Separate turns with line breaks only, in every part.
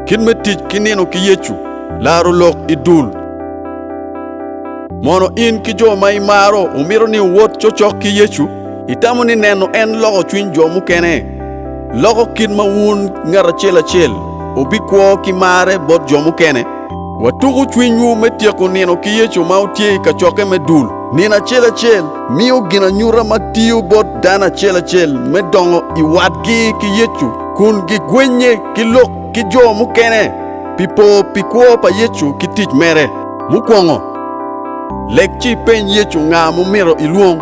Kit me tic ki nino ki Yecu, laro lok i dul. Mono in ki jo ma imaro wumito ni wuwot cokcok ki Yecu? Itamo ni neno en loko cwiny jo mukene, loko kit ma wun ngat acel acel wubikwo ki marre bot jo mukene? Watuko cwinywu me tyeko nino ki Yecu ma wutye i kacokke me dul. Nino acel acel miyo ginanyuta ma tiyo bot dano acel acel me dongo i watgi ki Yecu. kun gigwennye ki lok ki jo mukene pi po pi kwo pa Yecu ki tic mere. Mukwongo, lek ci ipeny Yecu nga mumito ilwong.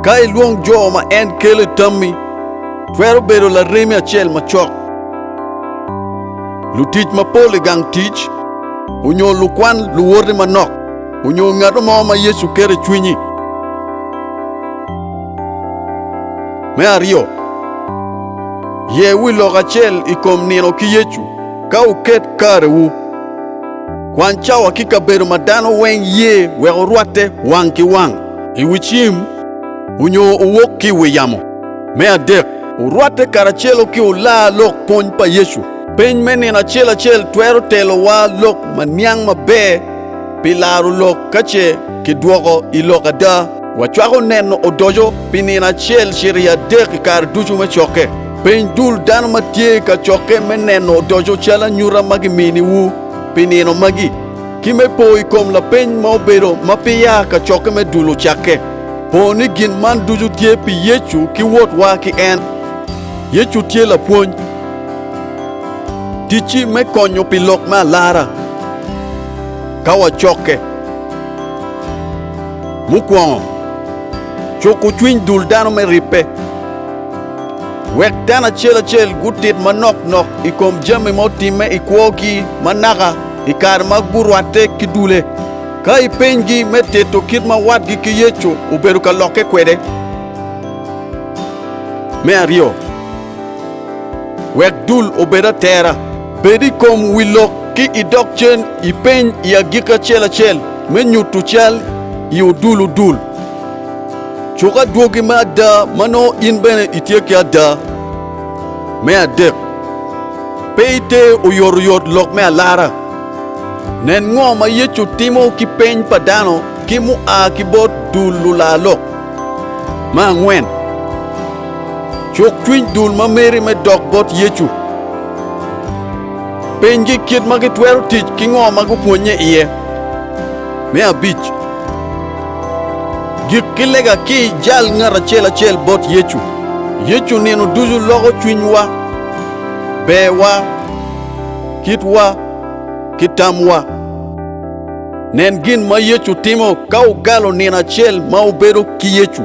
Ka ilwong jo ma en kelo i tammi, twero bedo laremi acel macok, lutic mapol i gang tic, onyo lukwan luwoti manok, onyo ngato mo ma Yecu keto i cwinyi. Me aryo. Ye wi lok acel i kom nino ki Yecu ka wuket karewu. Kwan cawa ki kabedo ma dano weng ye wek wurwatte wang ki wang. I wi cim onyo wuwok ki i wi yamo. Me adek. Wurwatte karacelo ki olar lok pwony pa Yecu. Peny me nino acel acel twero telowa lok ma niang maber pi laro lok ka ce kidwoko i lok ada. Wacwako neno odoco pi nino acel cito i adek i kare ducu me cokke. Peny dul dano ma tye i kacokke me neno odoco cal anyuta ma giminiwu pi nino magi, ki me po i kom lapeny ma obedo ma peya kacokke me dul ocakke. Po ni gin man ducu tye pi Yecu ki wotwa ki en. Yecu tye Lapwony. Ticci me konyo pi lok me alara ka wacokke. Mukwongo, cuko cwiny dul dano me ribbe. Wek dano acel acel gutit manok nok i kom jami ma otimme i kwogi ma naka i kare ma gurwatte ki dule. Ka ipenygi me tito kit ma watgi ki Yecu obedo ka lokke kwede. Me aryo, Wek dul obed atera, bed i kom wi lok ki i dog cen i peny i agikki acel acel me nyutu cal i odulu dul. Cuk adwogi me ada ma nongo in bene itye ki ada. Me adek, pe ite oyotoyot lok me alara. Nen ngo ma Yecu timo ki peny pa dano ki mua ki bot dul lular lok. Me angwen, cuk cwiny dul ma meri me dok bot Yecu. Penygi kit ma gitwero tic ki ngo ma gupwonnye iye. Me abic, gik ki lega ki i jal ngat acel acel bot Yecu. Yecu nino ducu loko cwinywa, berwa, kitwa, ki tamwa. Nen gin ma Yecu timo ka okalo nino acel ma obedo ki Yecu.